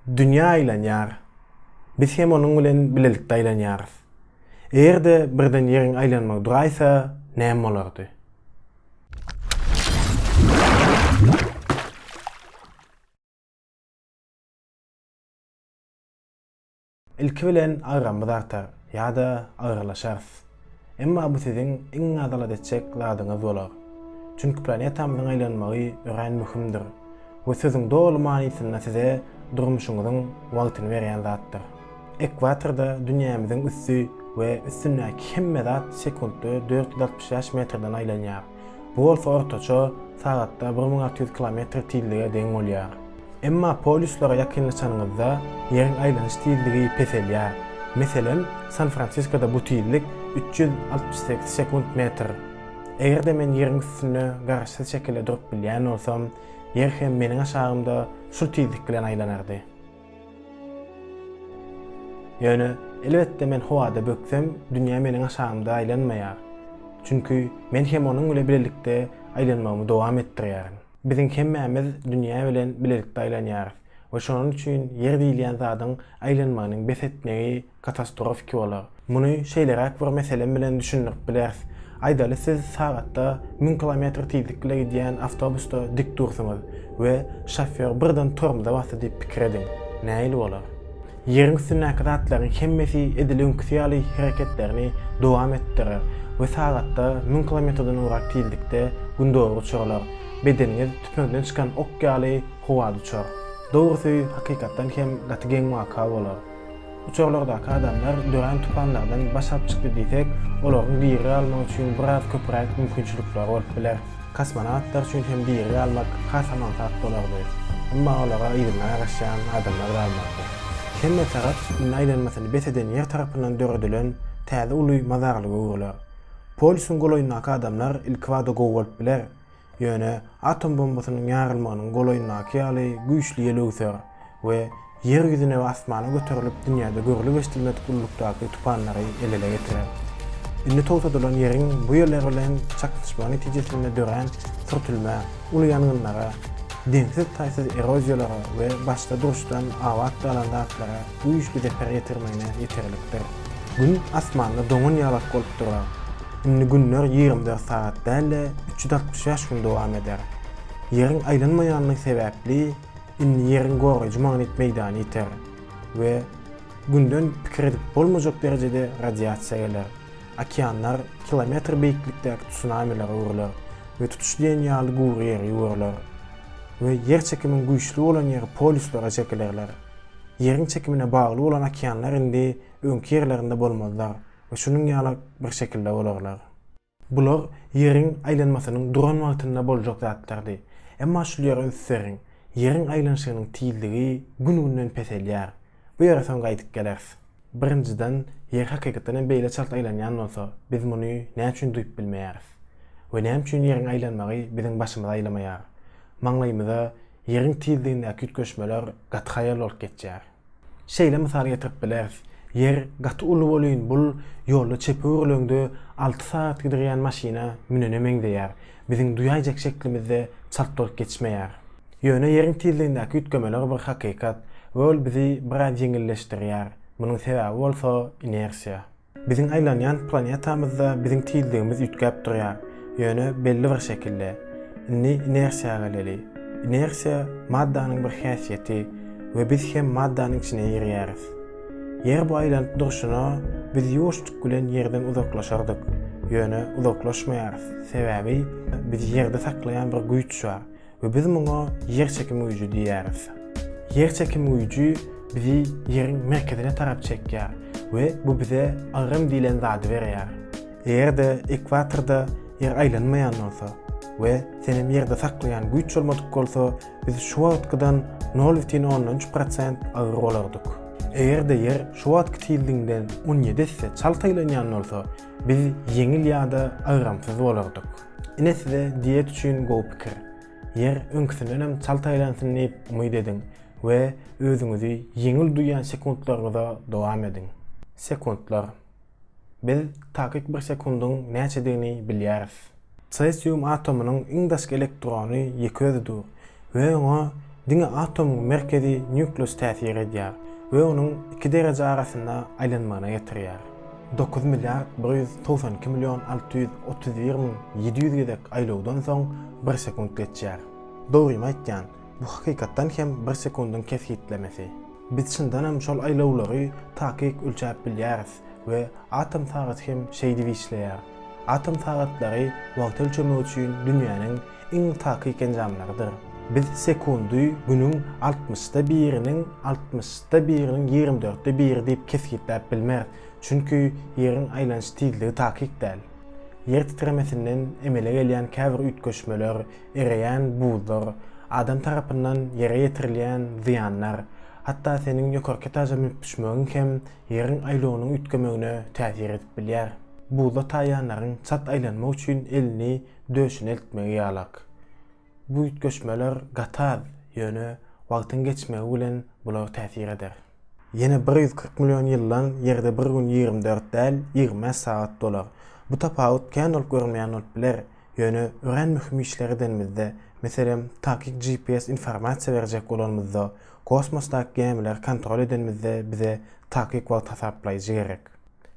Dünýä aýlanýar. Biz hem onuň bilen bilelikde aýlanýarys. Eger-de birden Ýeriň aýlanmagy duraýsa, näme bolardy? Ilki bilen agramyz artar ýa-da agyrylaşarys. Emma bu siziň iň nazalat etjek zadyňyz bolar. Çünki planetamyzyň aýlanmagy örän möhümdir we sözüň doly manysynda size durmuşyňyzyň wagtyny berýän zatdyr. Ekwatorda dünýämiziň üsti we üstündäki hemme zat sekuntda dört ýüz altmyş bäş metrden aýlanýar. Bu bolsa ortaça sagatda bir müň alty ýüz kilometr tizlige deň bolýar. Emma polýuslara ýakynlaşanyňyzda Ýeriň aýlanyş tizligi peselýär. Meselem, San-Fransiskoda bu tizlik üç ýüz altmyş sekiz sekunt metr. Eger-de men Ýeriň üstünde garaşsyz şekilde durup bilýän bolsam, Ýer hem meniň aşagymda şul tizlik bilen aýlanardy. Ýöne, elbetde, men howada böksem, dünýä meniň aşagymda aýlanmaýar. Çünki, men hem onuň bile bilelikde aýlanmagymy dowam etdirýärin. Biziň hemmämiz dünýä bilen bilelikde aýlanýarys we şonuň üçin ýer diýilýän zadyň aýlanmagynyň bes etmegi katastrofiki bolar. Muny şeýleräk bir meselem bilen düşündirip bileris. Aýdaly siz sagatda müň kilometr tizlik bile gidýän awtobusda dik dursuňyz we şofýor birden tormza basdy diýip pikir ediň. Nähili bolar? Ýeriň üstündäki zatlaryň hemmesi edil öňküsi ýaly hereketlerini dowam etdirer we sagatda müň kilometrden ugrak tizlikde gündogar uçurlar. Bedeniňiz tüpeňden çykan ok ýaly howada uçar. Dogrusy, hakykatdan hem gaty geň waka bolar. Uçarlardaky adamlar dörän tupanlardan baş alyp çykdy diýsek, olaryň diri galmagy üçin biraz köpräk mümkinçilikleri bolup biler. Kosmonawtlar üçin hem diri galmak has aňsat bolardy. Emma olara yzyna garaşýan adamlar galmazdy. Hemme tarap indi aýlanmasyny bes eden ýer tarapyndan döredilen täze uly mazarlyga öwrüler. Polýusyň golaýyndaky adamlar ilkibada gowy bolup biler. Ýöne atom bombasynyň ýarylmagynyň golaýyndaky ýaly güýçli ýel öwser we Ýer ýüzüne we asmana göterilip dünýäde görlüp eşidilmedik ululykdaky tupanlary emele getirer. Indi togtadylan Ýeriň bu ýerler bilen çaknyşmagy netijesinde dörän sürtülmä uly ýangynlara, deňsiz-taýsyz eroziýalara we başda duruşdan abat galan zatlara, güýçli zeper ýetirmegine ýeterlikdir. Gün asmanda doňan ýalak bolup durar. Indi günler ýigrimi dört sagat däl-de, üç ýüz altmyş bäş gün dowam eder. Ýeriň aýlanmaýanlygy sebäpli, indi Ýeriň goraýjy magnit meýdany ýiter we Günden pikir edip bolmajak derejede radiasiýa geler. Okeanlar kilometr beýiklikdäki tsunamilere öwrüler we tutuş diýen ýaly gury ýere ýugrular we ýer çekimiň güýçli bolan ýeri polýuslara çekilerler. Ýeriň çekimine bagly bolan okeanlar indi öňki ýerlerinde bolmazlar we şunuň ýaly bir şekilde bolarlar. Bular Ýeriň aýlanmasynyň duran wagtynda boljak zatlardy. Emma şul ýere üns beriň, Ýeriň aýlanyşygynyň tizligi gün-günden peselýär. Bu ýere soň gaýdyp geleris. Birinjiden, Ýer hakykatdan hem beýle çalt aýlanýan bolsa, biz muny näme üçin duýup bilmeýäris? We näme üçin Ýeriň aýlanmagy biziň başymyzy aýlamaýar? Maňlaýymyza Ýeriň tizligindäki üýtgeşmeler gaty haýal bolup geçýär. Şeýle mysal getirip bileris, Ýer gaty uly bolyn bul ýolda çepe öwrüleňde alty sagat gidirýän maşyna münene meňzeýär, biziň duýaýjak şeklimizde çalt bolup geçmeýär. Ýöne Ýeriň tizligindäki üýtgemeler bir hakykat we ol bizi biraz ýeňilleşdirýär, munuň sebäbi bolsa inersiýa. Biziň aýlanýan planetamyzda biziň tizligimiz üýtgäp durýar, ýöne belli bir şekilde. Indi inersiýa geleli. Inersiýa maddanyň bir häsiýeti we biz hem maddanyň içine girýäris. Ýer bu aýlanyp durşuna biz ýuwaşjyk bilen ýerden uzaklaşardyk, ýöne uzaklaşmaýarys, sebäbi bizi ýerde saklaýan bir güýç bar. we biz muňa ýer çekimi güýji diýýäris. Ýer çekimi güýji bizi ýeriň merkezine tarap çekýär we bu bize agram diýlen zady berýär. Eger-de ekwatorda ýer aýlanmaýan bolsa we senem ýerde saklaýan güýç bolmadyk bolsa, biz şu wagtkydan nol bütin ondan üç prosent agyr bolardyk. Eger-de ýer şu wagtky tizliginden on ýedi esse çalt aýlanýan bolsa, biz ýeňil ýa-da agramsyz bolardyk. Ine size diýet üçin gowy pikir. Ýer öňküsindenem çalt aýlansyn diýip umyt ediň we özüňizi ýeňil duýýan sekuntlaryňyza dowam ediň. Sekuntlar. Biz takyk bir sekundyň näçedigini bilýäris. Tresium atomynyň iň daşky elektrony ýeke özi dur. we oňa diňe atomyň merkezi nýukleus täsir edýär we onuň iki dereje arasynda aýlanmagyna getirýär. Dokuz milliard bir ýüz togsan iki million alty ýüz otuz bir müň ýedi ýüz gezek aýlawdan soň bir sekunt geçýär. Dogrymy aýtýan, bu hakykatdan hem bir sekundyň kesgitlemesi. Biz çyndanam şol aýlawlary takyk ölçäp bilýäris we atom sagaty hem şeýdip işleýär. Atom sagatlary wagty ölçemek üçin dünýäniň iň takyk enjamlarydyr. Biz sekundy günüň altmyşda biriniň altmyşda biriniň ýigrimi dörtde biri diýip kesgitläp bilmeris, çünki Ýeriň aýlanyş tizligi takyk däl. Ýer titremesinden emele gelýän käbir üýtgeşmeler, ereýän buzlar, adam tarapyndan Ýere ýetirilýän zyýanlar, hatda seniň ýokarky etaja münüp düşmegiň hem Ýeriň aýlawynyň üýtgemegine täsir edip bilýär. Buzda taýýanlaryň çalt aýlanmak üçin elini döşüni eltmegi ýalak. Bu üýtgeşmeler gatal, ýöne wagtyň geçmegi bilen bular täsir eder. Ýene bir ýüz kyrk million ýyldan Ýerde bir gün ýigrimi dört däl, ýigrimi bäş sagat dolar. Bu tapawut kän bolup görünmeýän bolup biler, ýöne örän möhüm işler edenimizde, meselem, takyk GPS informasiýa berjek bolanymyzda, kosmosdaky gämileri kontrol edenimizde bize takyk wagt hasaplaýjy gerek.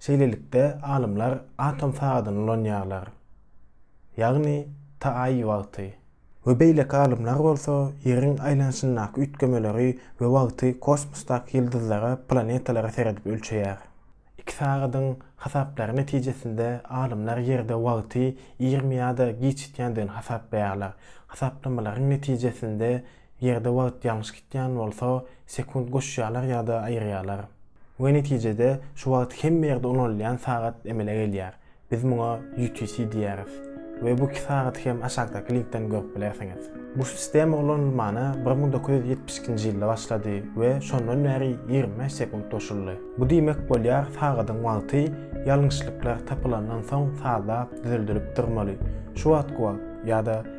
Şeýlelikde, alymlar atom sagadyny ulanýarlar, ýagny TAI wagty. We beýleki alymlar bolsa Ýeriň aýlanyşyndaky üýtgemeleri we wagty kosmosdaky ýyldyzlara, planetalara seredip ölçeýär. Iki sagadyň hasaplary netijesinde alymlar Ýerde wagty irimi ýa-da giçitýändigini hasaplaýarlar. Hasaplamalaryň netijesinde Ýerde wagt ýalňyş gitýän bolsa, sekunt goşýarlar ýa-da aýyrýarlar. We netijede şu wagt hemme ýerde ulanylýan sagat emele gelýär. Biz muňa UTC diýýäris. We bu iki sagaty hem aşakdaky linkden görüp bilersiňiz. Bu sistema ulanylmana bir müň dokuz ýüz ýetmiş ikinji ýylda başlady we şondan bäri ýigrimi bäş sekunt goşuldy. Bu diýmek bolýar sagadyň wagty ýalňyşlyklar tapylandan soň sazlap düzeldilip durmaly. Şu wagtky wagt ýa-da